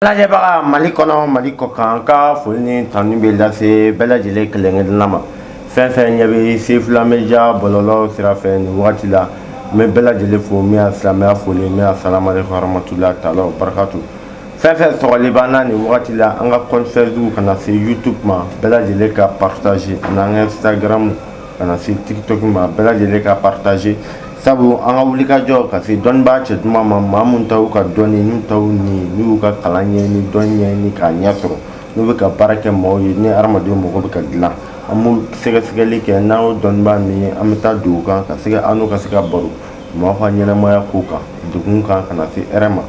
lajɛbaga mali kɔnɔ mali kɔ kan ka foli ni tanuni bɛ lase bɛɛ lajɛlen kelenkelenna ma fɛn fɛn ɲɛ bɛ sefula media bɔlɔlɔ sira fɛ nin wagati la n bɛ bɛɛ lajɛlen fo min ye silamɛya foli min ye asalamu aleykum waramatulahi taala wabarakatu fɛn fɛn sɔgɔli b'an na nin wagati la an ka compte facebook ka na se youtube ma bɛɛ lajɛlen ka partage an'an ka instagram ka na se tiktok ma bɛɛ lajɛlen ka partage sabu an ka wulikajɔ ka se dɔnnibaa cɛ duman ma maa minnu ta y'u ka dɔnni n'u ta y'u ni n'u y'u ka kalan ɲɛɲini dɔnni ɲɛɲini k'a ɲɛ sɔrɔ n'u bɛ ka baara kɛ maaw ye ni hadamadenw mago bɛ ka dilan an b'u sɛgɛsɛgɛli kɛ n'an y'o dɔnnibaa min ye an bɛ taa don u kan ka se ka an n'u ka se ka baro maaw ka ɲɛnɛmaya ko kan degun kan ka na se hɛrɛ ma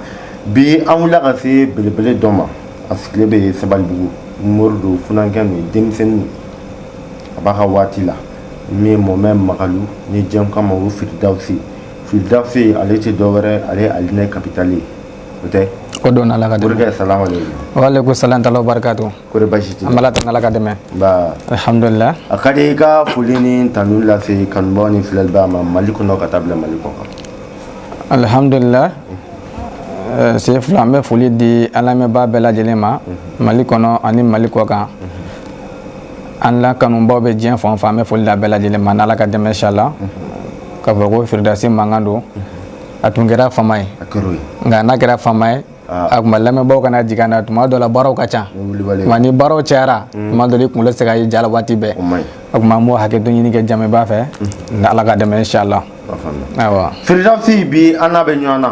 bi an wulila ka se belebele dɔ ma a sigilen bɛ sabalibugu mori don funankɛnin don denmisɛnnin a b'a ka waati la min ye mɔmɛ magalu ni diɲɛ k'a ma ko firidawusi firidawusi ale tɛ dɔwɛrɛ ale ye alijinɛ kapitali ye o tɛ ko dɔn ala ka dɛmɛ morikɛ salamu aleykum waleykum salam taala wabarakatu kɔri baasi tɛ an b'ala tanu ala ka dɛmɛ ba alhamdulillah a ka di i ka foli ni tanu lase kanubaa ni filɛlibaa ma mali kɔnɔ ka taa bila mali kɔ kan alhamdulillah eh, sefula an bɛ foli di an lamɛnbaa bɛɛ lajɛlen ma mali kɔnɔ ani mali kɔ kan an la kanubaw bɛ diɲɛ fan o fan an bɛ foli da bɛɛ lajɛlen ma n'ala ka dɛmɛ inshallah ka fɔ ko firidawusi mankan don a tun kɛra fama ye nka n'a kɛra fama ye ah. o tuma lamɛnbaaw kana jigin n na tuma dɔ la baaraw ka ca wa ni baaraw cayara mm. tuma dɔ la i kunkolo tɛ se ka ye ja la waati bɛɛ o tuma an b'o hakɛto ɲini kɛ jamaba fɛ mm. n'ala ka dɛmɛ inshallah ayiwa firidawusi bi an n'a bɛ ɲɔgɔn na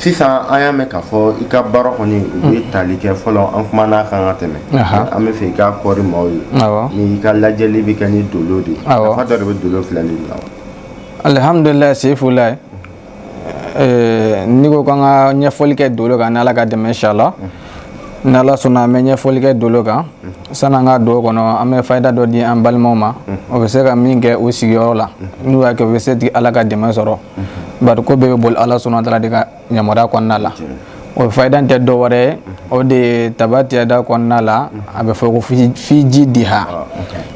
sisan an y'a mɛn k'a fɔ i ka baara kɔni o bɛ tali kɛ fɔlɔ an kumana a kan ka tɛmɛ an b'a fɛ i ka kɔɔri maaw ye ni i ka lajɛli bɛ kɛ ni dolo de ye nafa dɔ de bɛ dolo filɛli la alihamudulila sefulayi n'i ko k'an ka ɲɛfɔli kɛ dolo kan n'ala ka dɛmɛ inshallah mhm. n'ala sɔnna an bɛ ɲɛfɔli kɛ dolo kan mhm. san'an ka don o kɔnɔ an bɛ fayida dɔ di an balimaw ma mhm. u bɛ se ka min kɛ u sigiyɔrɔ la n'u y'a kɛ u bɛ se ka ala ka dɛmɛ sɔrɔ bari ko bɛɛ bɛ boli ala subahana taala de ka yamaruya kɔnɔna la o fayida tɛ dɔ wɛrɛ ye o de ye tabati yada kɔnɔna la a bɛ fɔ ko fi jidiha ah,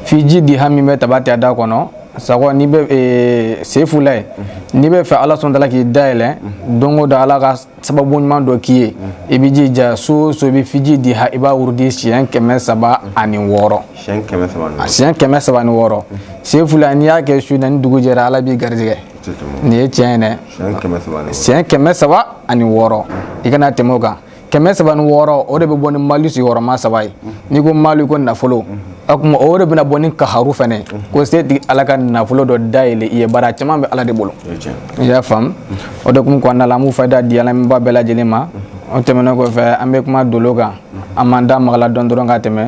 fi jidiha min bɛ tabati yada kɔnɔ sago n'i bɛ e, sefulayi n'i b'a fɛ ala subahana taala k'i dayɛlɛ don o don ala ka sababu ɲuman dɔ k'i ye i b'i jija su o su i bɛ fi jidiha i b'a wurudi siɲɛ kɛmɛ saba ani wɔɔrɔ siɲɛ kɛmɛ saba ani wɔɔrɔ sefula n'i y'a kɛ su na ni dugu jɛra ala b'i garijɛgɛ nin ye tiɲɛ ye dɛ siɲɛ kɛmɛ saba ani wɔɔrɔ i kana tɛmɛ o kan kɛmɛ saba ni wɔɔrɔ o de bɛ bɔ ni mali sigiyɔrɔma saba ye n'i ko mali ko nafolo o tuma o de bɛna bɔ ni kaharu fana ye ko se tigi ala ka nafolo dɔ dayɛlɛ i ye baara caman bɛ ala de bolo i y'a faamu o de kun kɔnɔna la an b'u fayida di lamɛnbaa bɛɛ lajɛlen ma o tɛmɛnen kɔfɛ an bɛ kuma dolo kan an m'an da maga a la dɔɔnin dɔrɔn ka tɛmɛ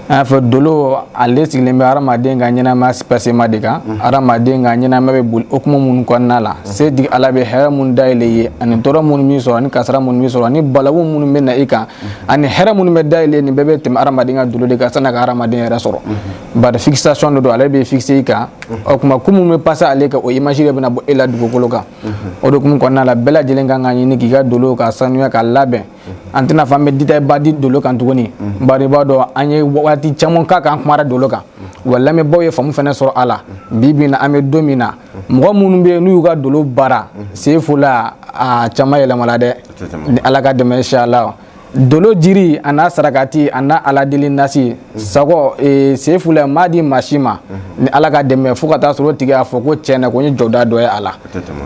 an y'a fɔ dolo ale sigilen bɛ hadamaden ka ɲɛnamaya pasema de kan hadamaden ka ɲɛnamaya bɛ boli hukumu minnu kɔnɔna la se tigi ala bɛ hɛrɛ minnu dayɛlɛ i ye ani tɔɔrɔ minnu b'i sɔrɔ ani kasara minnu b'i sɔrɔ ani balawu minnu bɛ na i kan mhm. ani hɛrɛ minnu bɛ dayɛlɛ nin bɛɛ bɛ tɛmɛ adamaden ka dolo de kan san'a ka adamaden yɛrɛ sɔrɔ mhm. bari fixation de don ale bɛ fixe i kan mhm. o tuma ko minnu bɛ passer ale kan o image de bɛna bɔ e la dugukolo kan o de kun kɔnɔna la bɛɛ lajɛlen kan k'a ɲini k'i ka dolo ka sanuya ka labɛn an tɛna fɔ an bɛ détail ba di dolo kan tuguni bari i b'a dɔn an ye waati caman k'a kan an kumara dolo kan wa lamɛnbaaw ye faamu fana sɔrɔ a la bi bi in na an bɛ don min na mɔgɔ minnu bɛ yen n'u y'u ka dolo baara sefula a caman yɛlɛmala dɛ ni ala ka dɛmɛ inshallah dolo jiri a n'a sarakati a n'a ala deli nasi sago e, sefula m'a di maa si ma ni ala ka dɛmɛ fo ka taa sɔrɔ o tigi y'a fɔ ko tiɲɛ na ko n ye jɔda dɔ ye a la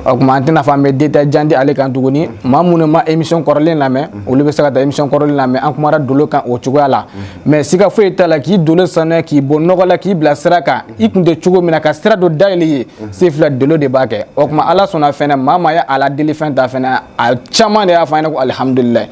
o tuma an tɛna fɔ an bɛ détail jan di ale kan tuguni maa minnu ma émission kɔrɔlen lamɛn olu bɛ se ka taa émission kɔrɔlen lamɛn an kumara dolo kan o cogoya la mais siga foyi t'a la k'i dolo sanuya k'i bɔ nɔgɔ la k'i bila sira kan i kun tɛ cogo min na ka sira dɔ dayɛlɛ i ye mhm. sefula dolo de b'a kɛ o tuma ala sɔnna fɛnɛ maa maa ye ala deli fɛn ta fɛnɛ a caman de y'a fɔ an ɲɛna ko alihamudulilayi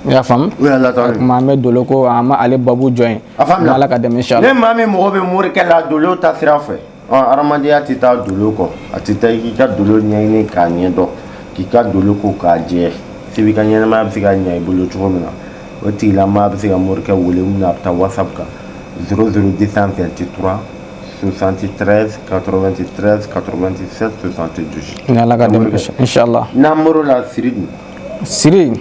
i y'a faamu o tuma an bɛ dolo ko an ma ale babu jɔ yen ala ka dɛmɛ inshallah ni maa min mago bɛ morikɛ la dolo ta sira fɛ adamadenya tɛ taa dolo kɔ a tɛ taa k'i ka dolo ɲɛɲini k'a ɲɛ dɔn k'i ka dolo ko k'a jɛ se b'i ka ɲɛnamaya bɛ se ka ɲɛ i bolo cogo min na o tigilamaa bɛ se ka morikɛ wele min na a bɛ taa whatsapp kan 00223 73 93 97 72 ni ala ka dɛmɛ inshallah n'an bɔr'o la siri dun siri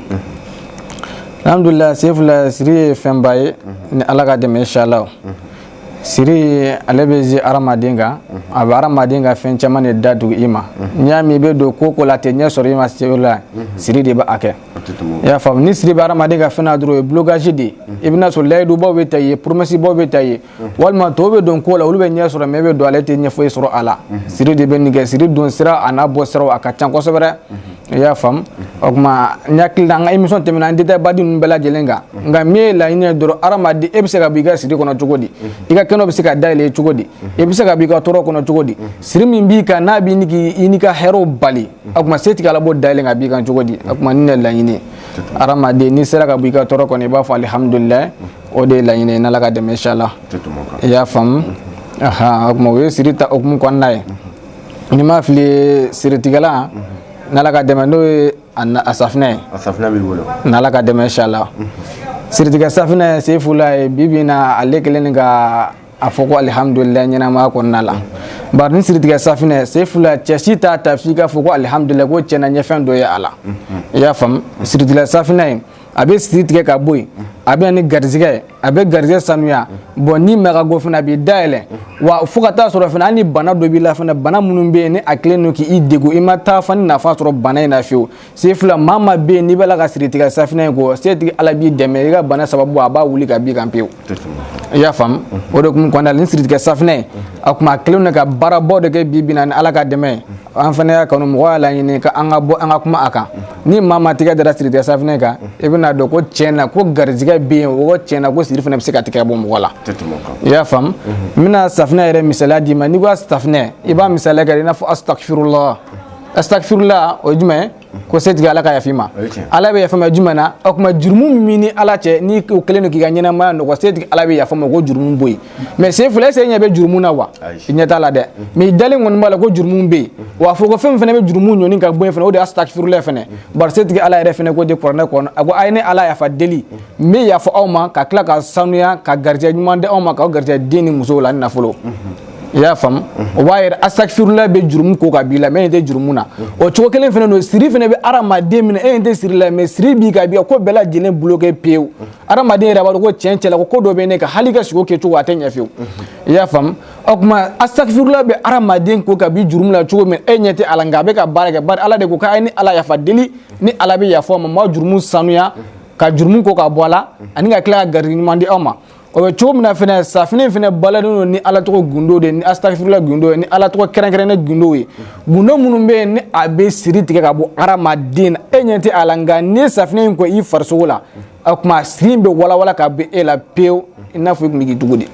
alhamdulilayi sefula siri ye fɛnba ye ni ala ka dɛmɛ inshallah siri ye ale bɛ agir hadamaden kan a bɛ hadamaden ka fɛn caman de datugu i ma n'i y'a mɛn i bɛ don ko o ko la tɛ ɲɛ sɔrɔ i ma sefula siri de b'a kɛ i y'a faamu ni siri bɛ hadamaden ka fɛn na dɔrɔn o ye blocage de ye i bɛna sɔrɔ layidubaw bɛ ta i ye promesse baw bɛ ta i ye walima tɔw bɛ don ko la olu bɛ ɲɛ sɔrɔ mais i bɛ don ale tɛ ɲɛ foyi sɔrɔ a la siri de bɛ nin kɛ siri don sira a n'a bɔ siraw a ka ca kosɛbɛ i y'a faamu o tuma n hakili la an ka émission tɛmɛna an détail ba di ninnu bɛɛ lajɛlen kan nka min ye laɲini ye dɔrɔn hadamaden e bɛ se ka bɔ i ka siri kɔnɔ cogo di i ka kɛnɛ bɛ se ka dayɛlɛ cogo di i bɛ se ka bɔ i ka tɔɔrɔ kɔnɔ cogo di siri min b'i kan n'a b'i ni k'i n'i ka hɛrɛw bali o tuma se tigi ala b'o dayɛlɛ k'a b'i kan cogo di o tuma nin de ye laɲini ye hadamaden n'i sera ka bɔ i ka tɔɔrɔ kɔnɔ i b'a fɔ alihamudulilayi o de ye laɲini ye n'ala ka dɛmɛ inshallah i y'a faamu o tuma o ye siri ta hukumu kɔnɔna ye ni n ma fili siritigɛlan n'ala ka dɛmɛ n'o ye a safinɛ ye a safinɛ b'i bolo n'ala ka dɛmɛ inshallah siritigɛ safinɛ sen fila ye bi bi na ale kelen ni ka a fɔ ko alihamudulila ɲɛnamaya kɔnɔna la bari ni siritigɛ safinɛ sen fila cɛ si t'a ta f'i k'a fɔ ko alihamudulila ko tiɲɛ na i ye fɛn dɔ ye a la i y'a faamu siritigɛ safinɛ ye a bɛ siri tigɛ ka bɔ yen a bɛ na ni garijɛgɛ ye a bɛ garijɛgɛ sanuya bon ni mɛkago fana a b'i dayɛlɛ wa fo ka taa sɔrɔ fana hali ni bana dɔ b'i la fana bana minnu bɛ yen ni a kɛlen don k'i degun i ma taa fan ni nafa sɔrɔ bana in na fiyewu sen fila maa maa bɛ yen n'i b'a la ka siritigɛ safinɛ in ko setigi ala b'i dɛmɛ i ka bana sababu a b'a wuli ka b'i kan pewu i y'a faamu o de kun kɔnɔna la ni siritigɛ safinɛ ye a tuma a kɛlen don ka baarabaw de kɛ bi bi na ni ala ka dɛmɛ an fana y'a kanu mɔgɔw y'a laɲini ko an ka bɔ an ka kuma a kan ni maa maa tigɛ dara siritigɛ safinɛ kan i bɛna a dɔn ko tiɲɛ na ko garijigɛ bɛ yen o tiɲɛ na ko siri fana bɛ se ka tigɛ bɔ mɔgɔ la i y'a faamu n bɛna safinɛ yɛrɛ misaliya d'i ma n'i ko safinɛ i b'a misaliya kɛ i n'a fɔ asitafirula asitafirula o ye jumɛn ko setigi ala ka yafa i ma ala bɛ yafa i ma jumɛn na o tuma jurumu min b'i ni ala cɛ n'i o kɛlen don k'i ka ɲɛnamaya nɔgɔ setigi ala bɛ yafa i ma k'o jurumu bɔ yen mais sen fila est-ce i ɲɛ bɛ jurumu na wa i ɲɛ t'a la dɛ mais i dalen kɔni b'a la ko jurumu bɛ yen wa fɔ ko fɛn min fana bɛ jurumu ɲɔni ka bɔ yen fana o de ye asitafirula fana bari setigi ala yɛrɛ fana ko de kuranɛ kɔnɔ a ko a ye ne ala yafa deli n bɛ yafa aw ma ka tila k'aw sanuya ka garijɛ ɲuman di aw ma k'aw garijɛ den ni musow la ni nafolo i y'a faamu o b'a yira asitafirula bɛ jurumu ko ka b'i la mais e ɲɛ tɛ jurumu na o cogo kelen fana don siri fana bɛ hadamaden minɛ e ɲɛ tɛ siri la mais siri b'i kan a b'i ko bɛɛ lajɛlen bloqué pewu hadamaden yɛrɛ b'a dɔn ko tiɲɛ tiɲɛ la ko ko dɔ bɛ ne kan hali ka sogo kɛcogo a tɛ ɲɛ fiyewu i y'a faamu o tuma asitafirula bɛ hadamaden ko ka bɔ jurumu la cogo min e ɲɛ tɛ a la nka a bɛ ka baara kɛ bari ala de ko k'a ye ne ala yafa deli ne ala bɛ yafa ma maa jurumu sanuya ka jurumu ko ka bɔ a la ani ka tila ka garijigɛ ɲuman di aw ma o bɛ cogo min na fɛnɛ safinɛ fɛnɛ baaralen don ni ala tɔgɔ gundo de ni asitafirula gundo ye ni ala tɔgɔ kɛrɛnkɛrɛnnen gundo ye gundo minnu bɛ yen ni a bɛ siri tigɛ ka bɔ hadamaden na e ɲɛ tɛ a la nka ni safinɛ in ko i farisogo la o tuma siri in bɛ walawala ka bɔ e la pewu i n'a fɔ i tun bɛ k'i dugu de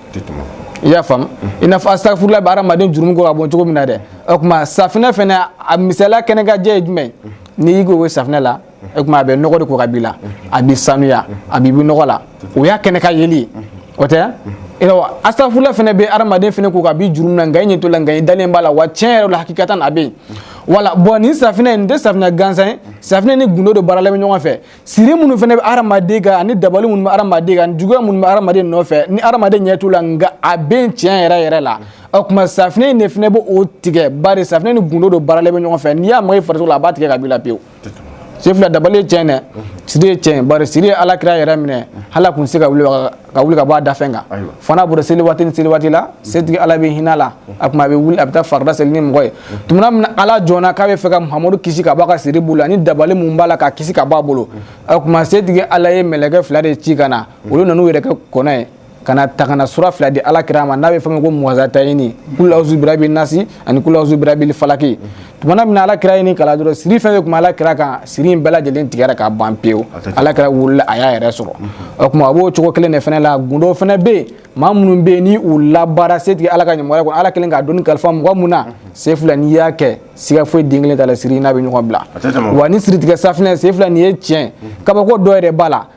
i y'a faamu i n'a fɔ asitafirula bɛ hadamaden jurumu ko ka bɔ cogo min na dɛ o tuma safinɛ fɛnɛ a misaliya kɛnɛ ka jɛ ye jumɛn ye n'i y'i ko o safinɛ la o tuma a bɛ nɔgɔ de ko ka b'i la a b'i sanuya a b'i bɔ nɔgɔ la o y'a kɛnɛ kan yeli ye o tɛ nka asitafirula fana bɛ adamaden fana ko ka bɔ jurumu na nka i ɲɛ t'o la nka i dalen b'a la wa tiɲɛ yɛrɛ la hakikatan a bɛ yen voilà bon nin safinɛ nin tɛ safinɛ gansan ye safinɛ ni gundo de baaralen bɛ ɲɔgɔn fɛ siri minnu fana bɛ adamaden kan ani dabali minnu bɛ adamaden kan juguya minnu bɛ adamaden nɔfɛ ni adamaden ɲɛ t'u la nka a bɛ yen tiɲɛ yɛrɛ yɛrɛ la o tuma safinɛ in de fana bɛ o tigɛ bari safinɛ ni gundo de baaralen bɛ ɲɔgɔn fɛ n'i y'a maga i farisogo la a b'a tigɛ ka b'i la pewu sefula dabali ye tiɲɛ dɛ siri ye tiɲɛ bari siri ye ala kira yɛrɛ minɛ hal'a kun se ka wuli ka bɔ a dafɛn kan fo n'a bɔra seli waati ni seli waati la setigi ala bɛ hinɛ a la a kuma a bɛ wuli a bɛ taa farida seli ni mɔgɔ ye tumana min ala jɔnna k'a bɛ fɛ ka muhamadu kisi ka bɔ a ka siri bolo ani dabali mun b'a la k'a kisi ka bɔ a bolo a kuma setigi ala ye mɛlɛkɛ fila de ci ka na olu nan'u yɛrɛ kɛ kɔnɔ ye ka na ta kana sura fila di ala kira ma n'a bɛ fɔ ko muwazatayini kul auzu birabi nasi ani kul auzu birabil falaki tumana min na ala kira ye nin kalan dɔrɔn siri fɛn fɛn tun bɛ ala kira kan siri in bɛɛ lajɛlen tigɛra ka ban pewu ala kira wulila a y'a yɛrɛ sɔrɔ o tuma a b'o cogo kelen de fana la gundo fana bɛ yen maa minnu bɛ yen ni u labaara setigi ala ka ɲɛmɔgɔya kɔnɔ ala kɛlen k'a dɔnni kalifa mɔgɔ mun na sefula n'i y'a kɛ siga foyi den kelen t'a la siri n'a bɛ ɲɔgɔn bila wa ni siritigɛ safinɛ sefula nin ye tiɲɛ kabako dɔ yɛrɛ b'a la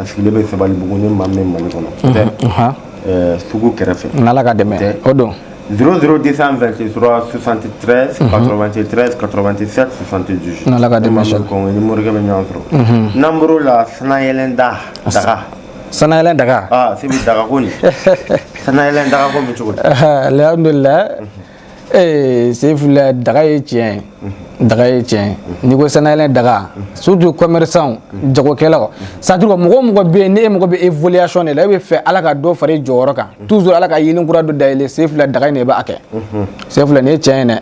a sigilen bɛ sabalibugu ni maa min mali kɔnɔ sugu kɛrɛfɛ n'ala ka dɛmɛ o don 0022373838778 n'ala ka dɛmɛ kɔni i ni morikɛ bɛ ɲɔgɔn sɔrɔ n'an bɔr'o la sanayɛlɛn da daga sanayɛlɛn daga ah sebi daga ko nin sanayɛlɛn daga ko bɛ cogo di alhamdulilayi ee sefula daga ye tiɲɛ ye daga ye tiɲɛ n'i ko sanayɛlɛn daga surtout commerçant jagokɛlaw c'est-à-dire ko mɔgɔ mɔgɔ bɛ yen n'e mago bɛ évolution de la e bɛ fɛ ala ka dɔ fara i jɔyɔrɔ kan toujours ala ka yeelen kura dɔ dayɛlɛ sefula daga in de b'a kɛ sefula nin ye tiɲɛ ye dɛ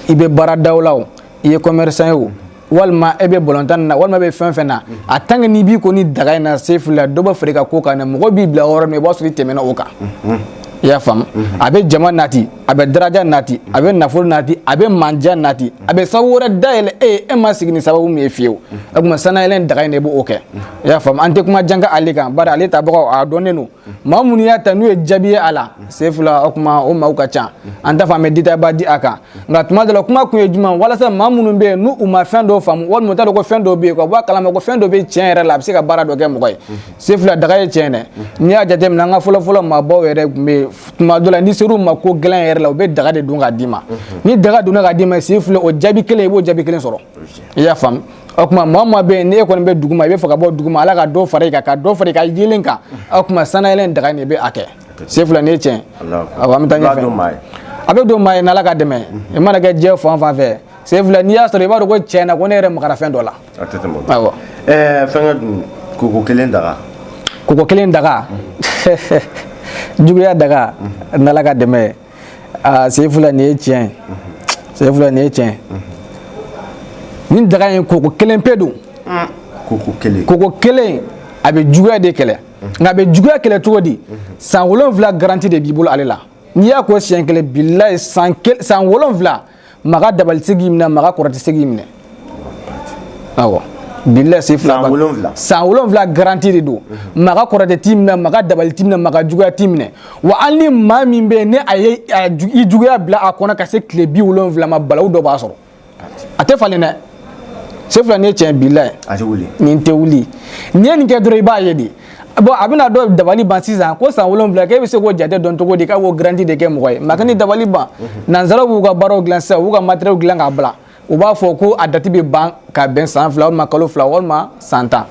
i bɛ baaradaw la o i ye commerçant ye o walima e bɛ balontan na walima e bɛ fɛn fɛn na a tant que n'i b'i ko ni daga in na sefula dɔ bɛ fara i ka ko kan dɛ mɔgɔ b'i bila yɔrɔ min i b'a sɔrɔ i tɛmɛna o kan i y'a faamu a bɛ jama nati a bɛ daraja nati a bɛ nafolo nati a bɛ mandiya nati a bɛ sababu wɛrɛ dayɛlɛ e ye e ma sigi ni sababu min ye fiyewu o tuma sanayɛlɛn daga in de b'o kɛ i y'a faamu an tɛ kuma jan kɛ ale kan bari ale tabagaw a dɔnnen don maa minnu y'a ta n'u ye jaabi ye a la sefula o kuma o maaw ka ca an t'a fɔ an bɛ détail ba di a kan nka tuma dɔ la kuma kun ye jumɛn walasa maa minnu bɛ yen n'u ma fɛn dɔw faamu walima u t'a dɔn ko fɛn dɔw bɛ yen ka bɔ a kalama ko fɛn dɔ bɛ tiɲɛ yɛrɛ la a bɛ se ka baara dɔ kɛ mɔgɔ ye sefula daga ye tiɲɛ dɛ n'i y'a jateminɛ an ka fɔlɔfɔlɔ maabaw yɛrɛ tun bɛ yen tuma dɔ la n'i ser'u ma ko gɛlɛn yɛrɛ la u bɛ daga de don k'a d'i ma ni daga donna k'a d'i ma sefula o jaabi kelen i b'o jaabi kelen sɔrɔ i y'a faamu o tuma maa maa bɛ yen n'e kɔni bɛ duguma i bɛ fɛ ka bɔ duguma ala ka dɔ fara i kan ka dɔ fara i ka yeelen kan o tuma sanayɛlɛn daga in de bɛ a kɛ sefula nin ye tiɲɛ awɔ an bɛ taa ɲɛfɛ a bɛ don maa ye n'ala ka dɛmɛ i mana kɛ diɲɛ fan fan fɛ sefula n'i y'a sɔrɔ i b'a dɔn ko tiɲɛ na ko ne yɛrɛ magara fɛn dɔ la a tɛ tɛmɛ o kan awɔ ɛɛ fɛnkɛ dun koko kelen daga koko kelen daga juguya daga n'ala ka dɛmɛ ye aa sefula nin ye tiɲɛ ye sefula nin ye tiɲɛ ye nin daga in koko kelen pe don koko kelen a bɛ juguya de kɛlɛ nka a bɛ juguya kɛlɛ cogo di san wolonwula garanti de b'i bolo ale la n'i y'a ko siɲɛ kelen bilayi san wolonwula maa ka dabali tɛ se k'i minɛ maa ka kɔrɔtɛ tɛ se k'i minɛ awɔ bilayi Seyfula san wolonwula san wolonwula garanti de don mhm. maa ka kɔrɔtɛ t'i minɛ maa ka dabali t'i minɛ maa ka juguya t'i minɛ wa hali ni maa min bɛ yen ni a ye i juguya bila a kɔnɔ ka se tile bi wolonwula ma balawu dɔ b'a sɔrɔ a tɛ falen dɛ Seyfula nin ye tiɲɛ bilayi nin tɛ wuli n'i ye nin kɛ dɔrɔn i b'a ye de bɔn a bɛna dɔ dabali ban sisan ko san wolonwula k'e bɛ se k'o jate dɔn cogo di k'a b'o garanti de kɛ mɔgɔ ye maa kan'i dabali ban nanzaraw b'u ka baaraw dilan sisan u b'u ka matériel dilan k'a bila u b'a fɔ ko a dati bɛ ban ka bɛn san fila walima kalo fila walima san tan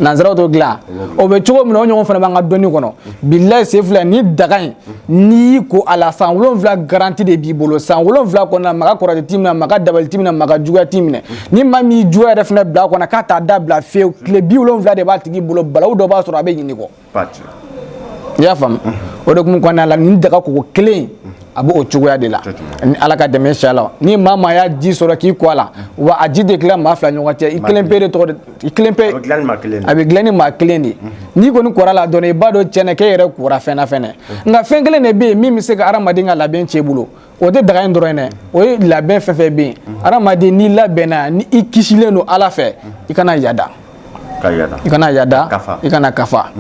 nanzaraw t'o dilan o bɛ cogo min na o ɲɔgɔn fana b'an ka dɔnni kɔnɔ bilayi Seyfula ni daga in n'i y'i ko a la san wolonwula garanti de b'i bolo san wolonwula kɔnɔna maa ka kɔrɔtɛ t'i minɛ maa ka dabali t'i minɛ maa ka juguya t'i minɛ ni maa min y'i juguya yɛrɛ fana bila a kɔnɔ k'a t'a dabila fewu tile bi wolonwula de b'a tigi bolo balawu dɔ b'a sɔrɔ a bɛ ɲinɛ i kɔ i y'a faamu o de kun kɔnɔna la nin daga koko kelen a b'o cogoya de la ni ala ka dɛmɛ inshallah ni maa maa y'a ji sɔrɔ k'i ko a la wa a ji tɛ tila maa fila ɲɔgɔn cɛ i kelen pe de tɔgɔ i kelen pe a bɛ dilan ni maa kelen de a bɛ dilan ni maa kelen de n'i kɔni kora la dɔrɔn i b'a dɔn tiɲɛ na k'e yɛrɛ kora fɛn na fɛnɛ nka fɛn kelen de bɛ yen min bɛ se ka hadamaden ka labɛn tiɲɛ i bolo o tɛ daga in dɔrɔn ye dɛ o ye labɛn fɛn fɛn bɛ yen hadamaden n'i labɛnna ni i kisilen don ala fɛ i kana yada i kana yada i kana kafa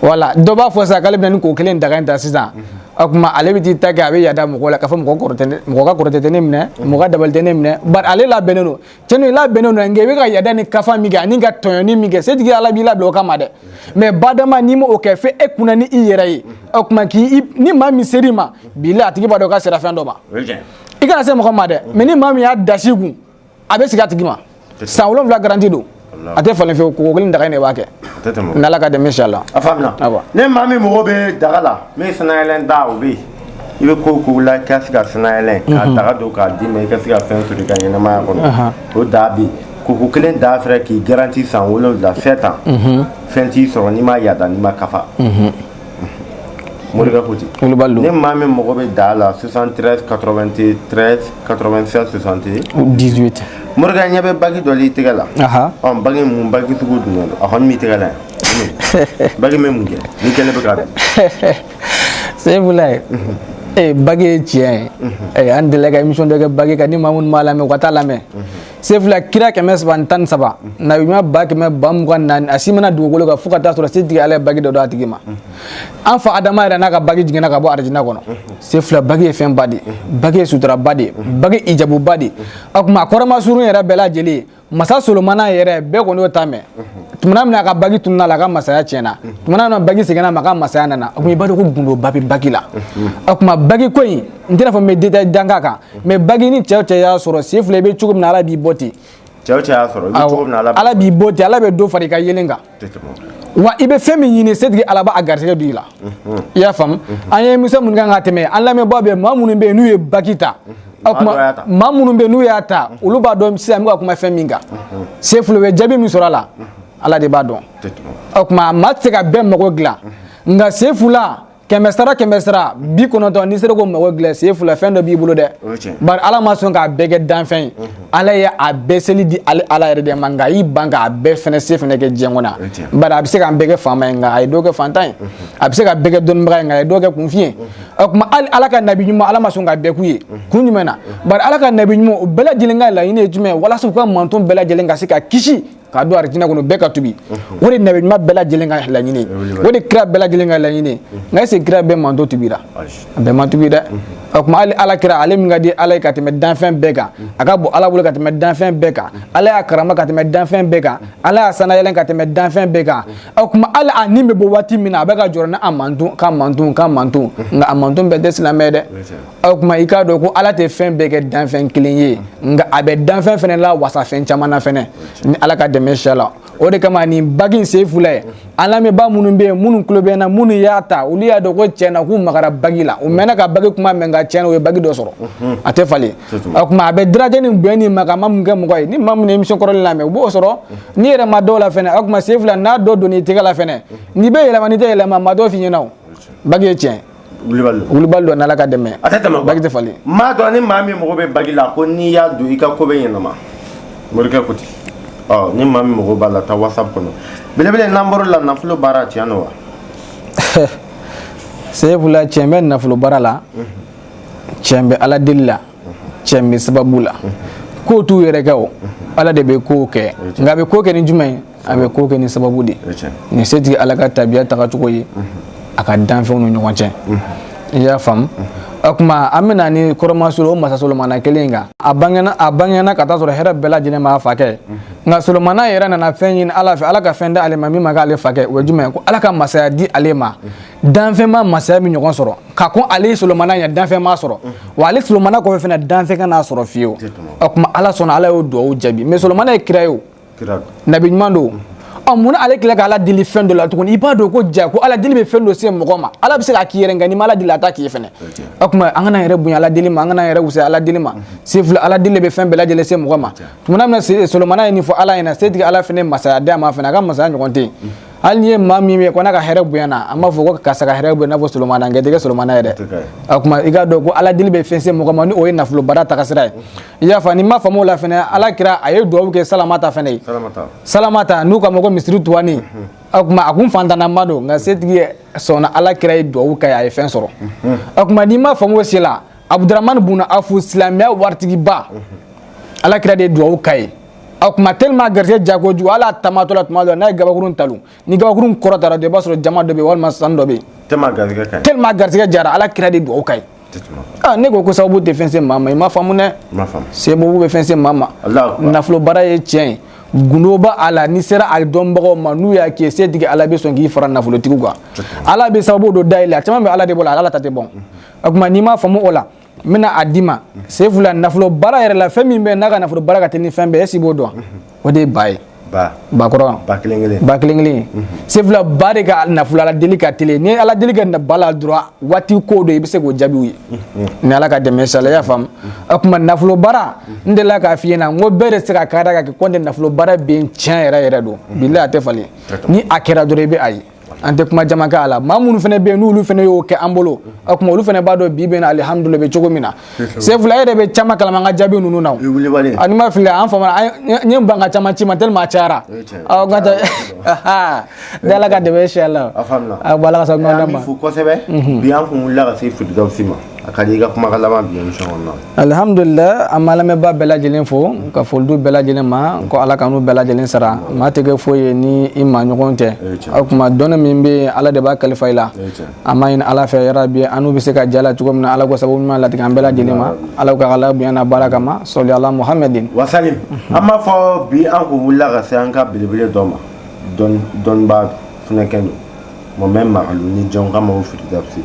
wala dɔ b'a fɔ sisan k'ale bɛna nin koko kelen daga in ta sisan o tuma ale bɛ t'i ta kɛ a bɛ yada mɔgɔ la k'a fɔ mɔgɔ kɔrɔ tɛ ne mɔgɔ ka kɔrɔtɛ tɛ ne minɛ mɔgɔ ka dabali tɛ ne minɛ bari ale labɛnnen don tiɲɛ don i labɛnnen don nka i bɛ ka yada ni kafa min kɛ an'i ka tɔɲɔni min kɛ setigi ala b'i labɛn o kama dɛ mɛ badama n'i ma o kɛ fo e kunna ni i yɛrɛ ye o tuma k'i ni maa min ser'i ma bilayi a tigi b'a dɔn k'a sera fɛn dɔ ma i kana se mɔgɔ ma dɛ mɛ ni maa min y'a dasi kun a bɛ segin a tigi ma san wolonwula garanti don a tɛ falen fewu koko kelen daga in de b'a kɛ n'ala ka dɛmɛ inshallah ni maa min mago bɛ daga la min sanayɛlɛn da o bɛ yen i bɛ ko ko la i ka se ka sanayɛlɛn k'a daga don k'a d'i ma i ka se ka fɛn sɔrɔ i ka ɲɛnamaya kɔnɔ o da bɛ yen koko kelen da fɛnɛ k'i garanti san wolonwula sept ans fɛn t'i sɔrɔ n'i ma yada n'i ma kafa morikɛ ko ten ni maa min mago bɛ da la soixante-treize quatre-vingt-treize quatre-vingt-seize soixante et un morikɛ ɲɛ bɛ bage dɔ la i tɛgɛ la bage mun bage sugu don a kɔni b'i tɛgɛ la yan bage bɛ mun kɛ ni kɛlen bɛ ka Seyfula ee bage ye tiɲɛ ye ee an delila ka émission dɔ kɛ bage kan ni maa minnu m'a lamɛn u ka t'a lamɛn Seyfula kira kɛmɛ saba ni tan ni saba nabiɲuman ba kɛmɛ ba mugan ni naani a si ma na dugukolo kan fo ka t'a sɔrɔ setigi ala ye bage dɔ d'a tigi ma an fa adama yɛrɛ n'a ka bage jiginna ka bɔ arijina kɔnɔ Seyfula bage ye fɛnba de ye bage ye suturaba de ye bage ye ijabuba de ye a kuma a kɔrɔmasurun yɛrɛ bɛɛ lajɛlen masa solomana yɛrɛ bɛɛ kɔni y'o ta mɛn tumana min a ka bagi tunun'a la a ka masaya tiɲɛna tumana min bagi seginn'a ma a ka masaya nana a kuma i b'a dɔn ko gundoba bɛ bagi la a kuma bagi ko in n tɛn'a fɔ n bɛ détail dan k'a kan mais bagi ni cɛ o cɛ y'a sɔrɔ sefula i bɛ cogo min na ala b'i bɔ ten cɛ o cɛ y'a sɔrɔ i bɛ cogo min na ala b'i bɔ ten ala bɛ dɔ fara i ka yelen kan wa i bɛ fɛn min ɲini setigi ala b'a garisɛgɛ don i la i y'a faamu an ye émission minnu kan ka tɛmɛ an lamɛnbaa bɛɛ maa minnu bɛ yen n'u ye bagi ta o kuma maa minnu bɛ yen n'u y'a ta olu b'a dɔn sisan n bɛ ka kuma fɛn min kan sefula u ye jaabi min sɔrɔ a la ala de b'a dɔn o tuma maa tɛ se ka bɛɛ mago dilan nka sefula kɛmɛ sara kɛmɛ sara bi kɔnɔntɔn n'i sera k'o mago dilan sefula fɛn dɔ b'i bolo dɛ bari ala ma sɔn k'a bɛɛ kɛ danfɛn ye ala ye a bɛɛ seli di ale ala yɛrɛ de ma nka a y'i ban k'a bɛɛ fɛnɛ se fɛnɛ kɛ diɲɛ kɔnɔ bari a bɛ se k'an bɛɛ kɛ faama ye nka a ye dɔ kɛ fantan ye a bɛ se ka bɛɛ kɛ dɔnnibaga ye nka a ye dɔ kɛ kunfin ye o tuma hali ala ka nabi ɲuman ala ma sɔn k'a bɛɛ k'u ye kun jumɛn na bari ala ka nabi ɲuman o bɛɛ lajɛlen ka laɲini ye jumɛn ye walasa u ka manton bɛɛ lajɛlen ka se ka kisi k'a don arijina kɔnɔ bɛɛ ka tubi o de nabi ɲuman bɛɛ lajɛlen ka laɲini o de kira bɛɛ lajɛlen ka laɲini nka est ce que kira bɛɛ manton tubira a bɛɛ ma tubi dɛ o tuma hali ala kira ale min ka di ala ye ka tɛmɛ danfɛn bɛɛ kan a ka bon ala bolo ka tɛmɛ danfɛn bɛɛ kan ala y'a karama ka tɛmɛ danfɛn bɛɛ kan ala y'a sanayɛlɛn ka tɛmɛ danfɛn bɛɛ kan o tuma hali a ni bɛ bɔ waati min na a bɛ ka jɔrɔ ni a manton ka manton ka manton nka a manton bɛɛ tɛ silamɛ dɛ o tuma i k'a dɔn ko ala tɛ fɛn bɛɛ kɛ danfɛn kelen ye nka a bɛ danfɛn fana lawasa fɛn caman na fɛnɛ ni ala ka dɛmɛ sɛ la o de kama nin bagi in sefula ye an lamɛnbaa minnu bɛ yen minnu tulo bɛ n na minnu y'a ta olu y'a dɔn ko tiɲɛ na k'u magara bagi la u mɛnna ka bagi kuma mɛn nka tiɲɛ na u ye bagi dɔ sɔrɔ a tɛ falen o tuma a bɛ daraja ni bonya ni makama min kɛ mɔgɔ ye ni maa min ye émission kɔrɔlen lamɛn u b'o sɔrɔ n'i yɛrɛ ma dɔw la fɛnɛ o tuma sefula n'a dɔ donn'i tɛgɛ la fɛnɛ n'i bɛ yɛlɛma n'i tɛ yɛlɛma maa t'o f'i ɲɛna o bagi ye tiɲɛ ye wulibali don wulibali don n'ala ka dɛmɛ a tɛ tɛmɛ bagi tɛ falen n m'a dɔn ni maa min mago bɛ bagi la ko n'i y'a don i ka ko bɛ ɲɛnabɔ morikɛ ko ten ɔ ni maa min mago b'a la taa whatsapp kɔnɔ belebele n'an bɔr'o la nafolo baara tiɲɛ don wa sefula tiɲɛ bɛ nafolo baara la tiɲɛ bɛ ala deli la tiɲɛ bɛ sababu la kow t'u yɛrɛ kɛ o ala de bɛ kow kɛ nka a bɛ ko kɛ ni jumɛn ye a bɛ ko kɛ ni sababu de ye nin setigi ala ka tabiya tagacogo ye a ka danfɛnw ni ɲɔgɔn cɛ i y'a faamu o tuma an bɛna ni kɔrɔ masolo o masa solomana kelen kan a bangena a bangena ka taa sɔrɔ hɛrɛ bɛɛ lajɛlen b'a fakɛ nka solomana yɛrɛ nana fɛn ɲini ala fɛ ala ka fɛn d'ale ma min ma k'ale fakɛ o ye jumɛn ko ala ka masaya di ale ma danfɛn ma masaya min ɲɔgɔn sɔrɔ ka kɔn ale solomana ɲɛ danfɛn m'a sɔrɔ wa ale solomana kɔfɛ fana danfɛn kan'a sɔrɔ fiyewu o tuma ala sɔnna ala y'o duwawu jaabi mais solomana ye kira ye o nabi ɲuman don ɔ munna ale tila ka ala deli fɛn dɔ la tuguni i b'a dɔn ko ja ko ala deli bɛ fɛn dɔ se mɔgɔ ma ala bɛ se k'a k'i yɛrɛ nka n'i ma ala deli a t'a k'i ye fɛnɛ o tuma an kana yɛrɛ bonya ala deli ma an kana yɛrɛ wusaya ala deli ma sefula ala deli bɛ fɛn bɛɛ lajɛlen se mɔgɔ ma tumana min na solomana ye nin fɔ ala ɲɛna setigi ala fɛnɛ masaya d'a ma fɛnɛ a ka masaya ɲɔgɔn tɛ yen hali n'i ye maa min ye ko n'a ka hɛrɛ bonyana an b'a fɔ ko karisa ka hɛrɛ bonya i n'a fɔ solomana nka i tɛ kɛ solomana ye dɛ o tuma i k'a dɔn ko ala deli bɛ fɛn se mɔgɔ ma ni o ye nafolo baara tagasira ye i y'a faamu n'i ma faamu o la fɛnɛ ala kira a ye duwawu kɛ salamata fɛnɛ ye salamata n'u k'a ma ko misiri tuwani o tuma a kun fantanama don nka setigi sɔnna ala kira ye duwawu k'a ye a ye fɛn sɔrɔ o tuma n'i ma faamu o si la abuduramani buna afu silamɛya waritigiba ala kira de ye duwawu k'a ye o tuma tellement garisɛgɛ jakojugu hali a taamatɔ la tuma dɔ la n'a ye gabakurun talon ni gabakurun kɔrɔtara dɔrɔn i b'a sɔrɔ jaman dɔ bɛ yen walima sanu dɔ bɛ yen tellement garisɛgɛ jara ala kira de duwawu k'a ye ah ne ko ko sababu tɛ fɛn se maa ma i ma faamu dɛ sababu bɛ fɛn se maa ma nafolo baara ye tiɲɛ ye gundo b'a a la n'i sera a dɔnbagaw ma n'u y'a k'i ye setigi ala bɛ sɔn k'i fara nafolotigiw kan ala bɛ sababu dɔ dayɛlɛ a caman bɛ ala de bolo ala ta tɛ bɔn o tuma n'i m'a faamu o la n bɛna a d'i ma sefula nafolo baara yɛrɛ la fɛn min bɛ n'a ka nafolo baara ka teli ni fɛn bɛɛ est-ce i b'o dɔn o de ye ba ye bakɔrɔ ba kelen kelen ba kelen kelen sefula ba de ka nafolo ala deli ka teli ni ala deli ka na ba la dɔrɔn waati ko don i bɛ se k'o jaabiw ye ni ala ka dɛmɛ sala y'a faamu o tuma nafolo baara n delila k'a f'i ɲɛna n ko bɛɛ de se ka k'a da ka kɛ ko n tɛ nafolo baara bɛ yen tiɲɛ yɛrɛ yɛrɛ don bilahi a tɛ falen ni a kɛra dɔrɔn i bɛ a ye an tɛ kuma caman kɛ a la maa minnu fana bɛ yen n'olu fana y'o kɛ an bolo o tuma olu fana b'a dɔn bi bɛ na alihamudulila bɛ cogo min na sefula e yɛrɛ bɛ caman kalama an ka jaabi ninnu na ani ma fili an fama n ye ban ka caman ci ma tellement a cayara ɔ ka taa da ala ka dɛmɛ sɛ la a bɔ ala ka sa ɲɔgɔn ma kosɛbɛ bi an kun wulila ka se firidawusi ma a ka di i ka kumakan laban bi alihamdulila an b'a lamɛnbaa bɛɛ lajɛlen fo ka foli di bɛɛ lajɛlen ma ko ala k'an n'u bɛɛ lajɛlen sara maa tɛ kɛ foyi ye ni i maaɲɔgɔn tɛ o tuma dɔnni min bɛ yen ala de b'a kalifa i la an b'a ɲini ala fɛ yarabi an n'u bɛ se ka j'a la cogo min na ala k'o sababu ɲuman latigɛ an bɛɛ lajɛlen ma ala ka ala bonya n'a baraka ma sɔli ala muhamɛdi wasalim an b'a fɔ bi an kun wulila ka se an ka belebele dɔ ma dɔnnibaa fɛnɛ kɛ don mohamɛdi magalu ni jɔn k'a ma ko firidawusi